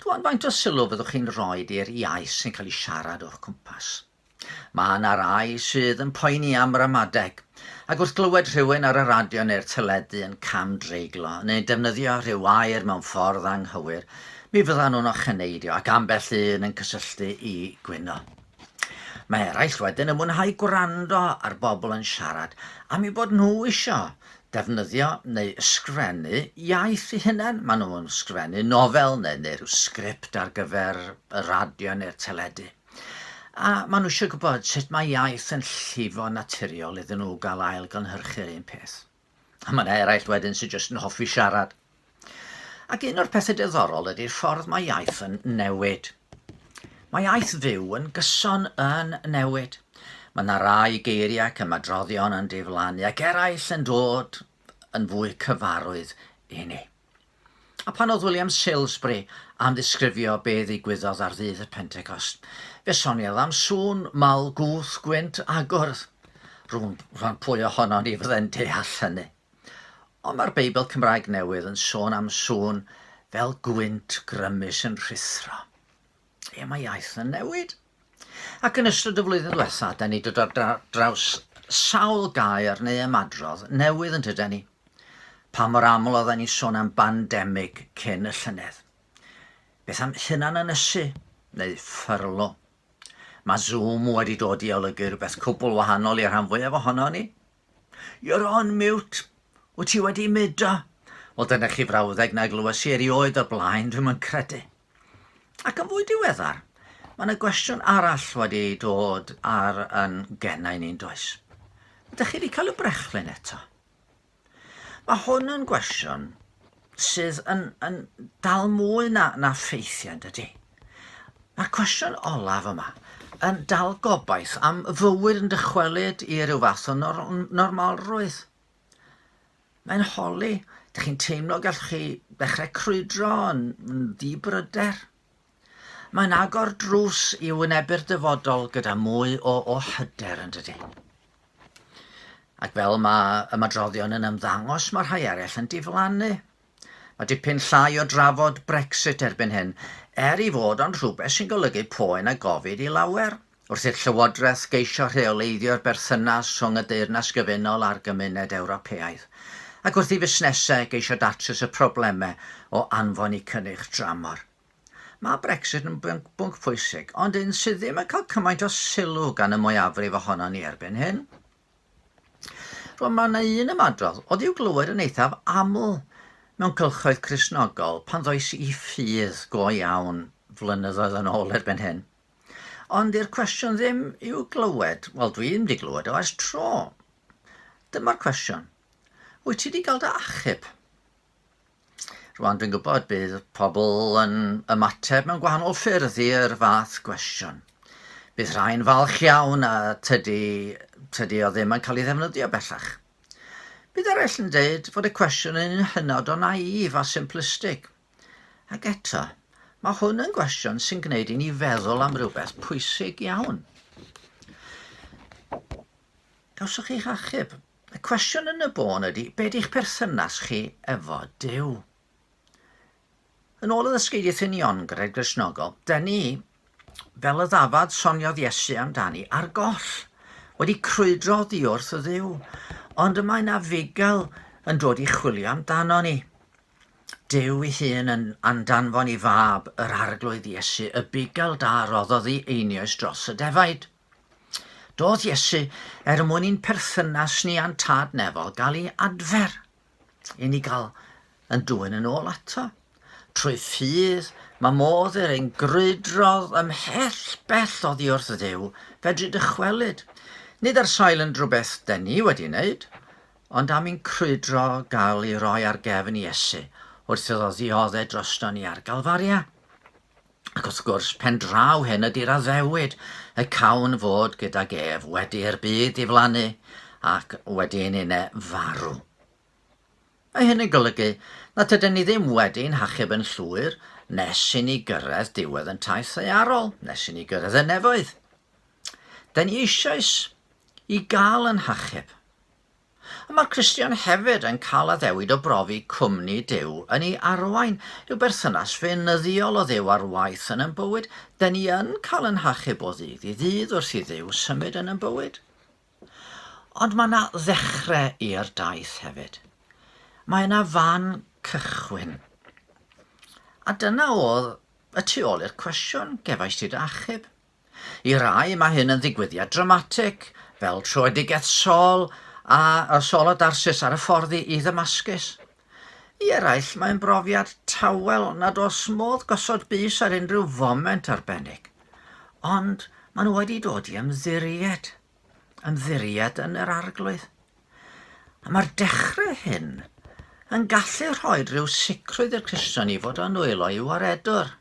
Rwan, faint o sylw fyddwch chi'n rhoi i'r iaith sy'n cael ei siarad o'ch cwmpas? Mae yna rai sydd yn poeni am ramadeg, ac wrth glywed rhywun ar y radio neu'r teledu yn cam-dreiglo neu'n defnyddio rhyw air mewn ffordd anghywir, mi fyddan nhw'n ocheneidio ac ambell un yn cysylltu i gwyno. Mae eraill wedyn yn mwynhau gwrando ar bobl yn siarad am ei bod nhw isio defnyddio neu ysgrifennu iaith eu hunain, maen nhw'n ysgrifennu nofel neu neu rhyw sgript ar gyfer y radio neu'r teledu. A maen nhw eisiau gwybod sut mae iaith yn llifo naturiol iddyn nhw gael ail-gynhyrchu'r un peth. A mae yna eraill wedyn sydd jyst yn hoffi siarad. Ac un o'r pethau diddorol ydy'r ffordd mae iaith yn newid. Mae iaith fyw yn gyson yn newid. Mae yna rai geiriau ac ymadroddion yn diflannu ac eraill yn dod yn fwy cyfarwydd i ni. A pan oedd William Salesbury am ddisgrifio be ddigwyddodd ar ddydd y Pentecost, fe soniodd am sŵn mawr gwth gwynt agwrdd. Rwy'n rhan pwy ohono ni fyddai'n deall hynny. Ond mae'r Beibl Cymraeg Newydd yn sôn am sŵn fel gwynt grymus yn rhuthro. Ie, mae iaith yn newid. Ac yn ystod y flwyddyn diwetha, da ni dod ar draws sawl gair neu ymadrodd newydd yn tyda ni. Pa mor aml oedden ni sôn am bandemig cyn y llynedd? Beth am hunan ynysu neu ffyrlo? Mae Zoom wedi dod i olygu rhywbeth cwbl wahanol i'r rhan fwyaf ohono ni, You're on mute. Wyt ti wedi mudo? Wel, dyna chi frawddeg na glywes i erioed o'r blaen, dwi'm yn credu. Ac yn fwy diweddar, mae yna gwestiwn arall wedi dod ar yn gennau ni'n does. Ydych chi wedi cael y brechlyn eto? Mae hwn yn gwestiwn sydd yn, yn dal mwy na, na ffeithiau, dydy? Mae'r cwestiwn olaf yma yn dal gobaith am fywyd yn dychwelyd i ryw fath o nor normalrwydd. Mae'n holi, ydych chi'n teimlo gallwch chi ddechrau crwydro yn, yn ddibryder? Mae'n agor drws i wynebu'r dyfodol gyda mwy o o hyder yn dydy. Ac fel mae ymadroddion yn ymddangos, mae rhai eraill yn diflannu. Mae dipyn llai o drafod Brexit erbyn hyn, er i fod ond rhywbeth sy'n golygu poen a gofid i lawer. wrth i'r Llywodraeth geisio rheoleiddio'r berthynas rhwng y Deyrnas Gyfunol a'r Gymuned Ewropeaidd, ac wrth i fusnesau geisio datrys y problemau o anfon eu cynnyrch dramor. Mae Brexit yn bwnc, bwnc pwysig, ond un sydd ddim yn cael cymaint o sylw gan y mwyafrif ohonon ni erbyn hyn. Rwan, mae yna un ymadrodd oedd i'w glywed yn eithaf aml mewn cylchoedd Cristnogol pan ddois i ffydd go iawn flynyddoedd yn ôl erbyn hyn. Ond di'r cwestiwn ddim i'w glywed, wel dwi ddim wedi glywed o ers tro. Dyma'r cwestiwn. Wyt ti wedi cael dy achub? Rwan dwi'n gwybod bydd pobl yn ymateb mewn gwahanol ffyrdd i'r fath gwestiwn. Bydd rhai'n falch iawn a tydi, tydi o ddim yn cael ei ddefnyddio bellach. Bydd eraill yn dweud fod y cwestiwn yn hynod o naif a simplistig – Ac eto, mae hwn yn gwestiwn sy'n gwneud i ni feddwl am rywbeth pwysig iawn. Gawsoch chi'ch achub. Y cwestiwn yn y bôn ydy, be di'ch perthynas chi efo Dyw? Yn ôl y ddysgeidiaeth uniongred Gristnogol, da ni, fel y ddafad soniodd Iesu amdani, ar goll, wedi crwydro ddiwrth y ddiw, ond y mae na fugail yn dod i chwilio amdano ni. Duw ei hun yn andanfon i Fab yr Arglwydd Iesu y bugail da a roddodd i einioes dros y defaid. Doedd Iesu er mwyn i'n perthynas ni a'n Tad Nefol gael ei adfer, i ni gael yn dwyn yn ôl ato. Trwy ffydd, mae modd i'r ein grwydrodd ymhell bell oddi wrth ddew fedru dychwelyd. Nid ar sail yn drwbeth den ni wedi wneud, Ond am i'n crwydro gael ei roi ar gefn Iesu wrth iddo ddiodde drosto ni ar Galfaria. Ac wrth gwrs, pen draw hyn ydy'r addewid y cawn fod gydag ef wedi i'r byd diflannu ac wedi ein une farw. Mae hyn yn golygu na tyda ni ddim wedi ein hachub yn llwyr nes i ni gyrraedd diwedd yn taith ddaearol, nes i ni gyrraedd y nefoedd. Da ni eisoes i gael yn hachub. Ond mae'r Cristion hefyd yn cael addewid o brofi cwmni Duw yn ei arwain, yw berthynas feinyddiol o Dduw ar waith yn yn bywyd, de ni yn cael yn hachub o ddydd i ddydd wrth i Dduw symud yn yn bywyd. Ond mae yna ddechrau i'r daith hefyd. Mae yna fan cychwyn. A dyna oedd y tu ôl i'r cwestiwn, gefais ti dy achub? I rai mae hyn yn ddigwyddiad dramatig, fel troedigaeth Saul a Saul a Darsus ar y ffordd i Ddamascus. I eraill mae'n brofiad tawel nad oes modd gosod bys ar unrhyw foment arbennig. Ond maen nhw wedi dod i ymddiried, ymddiried yn yr Arglwydd. A mae'r dechrau hyn yn gallu rhoi rhyw sicrwydd i'r Cristion i fod â nwylo i'w waredwr.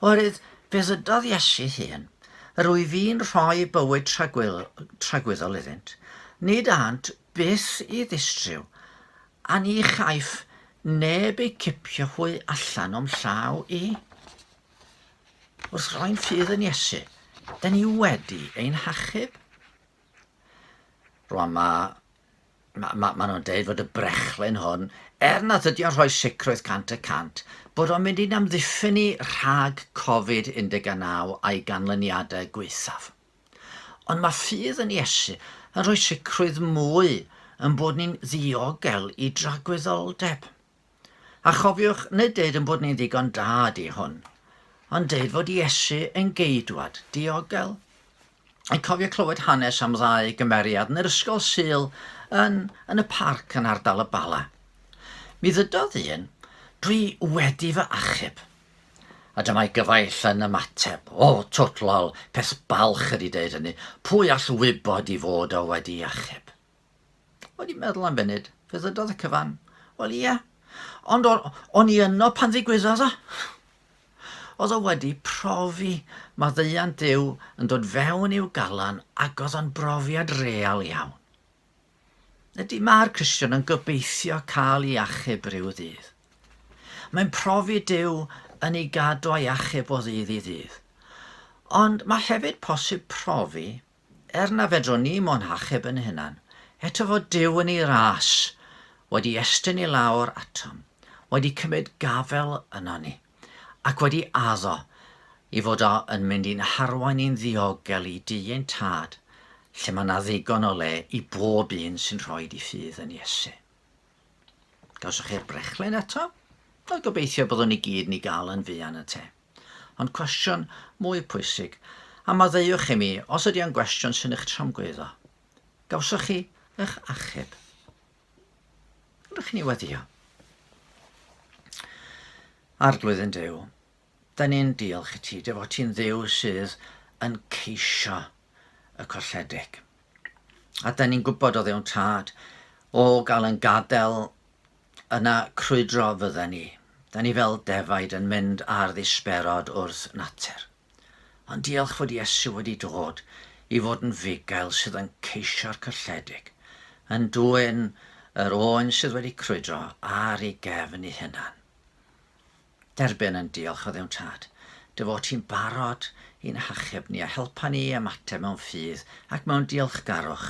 Oherwydd fe ddydodd Iesu hun, yr wyf fi'n rhoi bywyd tragwyddol iddynt, nid ânt byth i ddistryw, a ni chaiff neb eu cipio hwy allan o'm llaw i. Wrth roi'n ffydd yn Iesu, da ni wedi ein hachub. Rwan mae... mae... mae... maen nhw'n deud fod y brechlyn hwn, er nad ydy o'n rhoi sicrwydd 100%, bod o'n mynd i'n amddiffyn ni rhag Covid 19 a'i ganlyniadau gwaethaf. Ond mae ffydd yn Iesu yn rhoi sicrwydd mwy yn bod ni'n ddiogel i dragwyddoldeb. A chofiwch, nid deud ein bod ni'n ddigon da ydi hwn, ond deud fod Iesu yn geidwad diogel. Yn cofio clywed hanes am ddau gymeriad yn yr ysgol sul yn, yn y parc yn ardal y Bala. Mi ddydodd un, dwi wedi fy achub. A dyma'i gyfaill yn ymateb, o, twtlol, peth balch ydi deud hynny, pwy all wybod i fod o wedi achub? O'n i'n meddwl am funud, fe ddydodd y cyfan, wel ie, ond o'n i yno pan ddigwyddodd o. Oedd o wedi profi maddeuant Duw yn dod fewn i'w galan ac oedd o'n brofiad real iawn. Ydy mae'r Cristion yn gobeithio cael ei achub rhyw ddydd. Mae'n profi Duw yn ei gadw a'i achub o ddydd i ddydd. Ond mae hefyd posib profi Er na fedrwn ni mo'n hachub yn hunan, eto fo Duw yn ei ras, wedi estyn i lawr atom, wedi cymryd gafel yno ni, ac wedi addo i fod o yn mynd i'n harwain ni'n ddiogel i du ein Tad, lle mae 'na ddigon o le i bob un sy'n rhoid i ffydd yn Iesu. Gawsoch chi'r brechlen eto? Wel, gobeithio byddwn ni gyd ni gael yn fuan y te. Ond cwestiwn mwy pwysig, a maddeuwch i mi os ydy o'n gwestiwn sy'n eich tramgwyddo. Gawsoch chi eich achub? Ydych chi'n ei weddio? Arglwydden Duw, da ni'n diolch i ti, dy fod ti'n ddiw sydd yn ceisio y colledig. A da ni'n gwybod o ddewn tad, o gael yn gadael Yna crwydro fydden ni. Da ni fel defaid yn mynd ar ddisberod wrth natur. Ond diolch fod Iesu wedi dod i fod yn fugail sydd yn ceisio'r cylledig, yn dwyn yr oen sydd wedi crwydro ar ei gefn ei hunan. Derbyn yn diolch o Dduw'n Tad, dy fod ti'n barod i'n hachub ni a helpa ni i ymateb mewn ffydd ac mewn diolchgarwch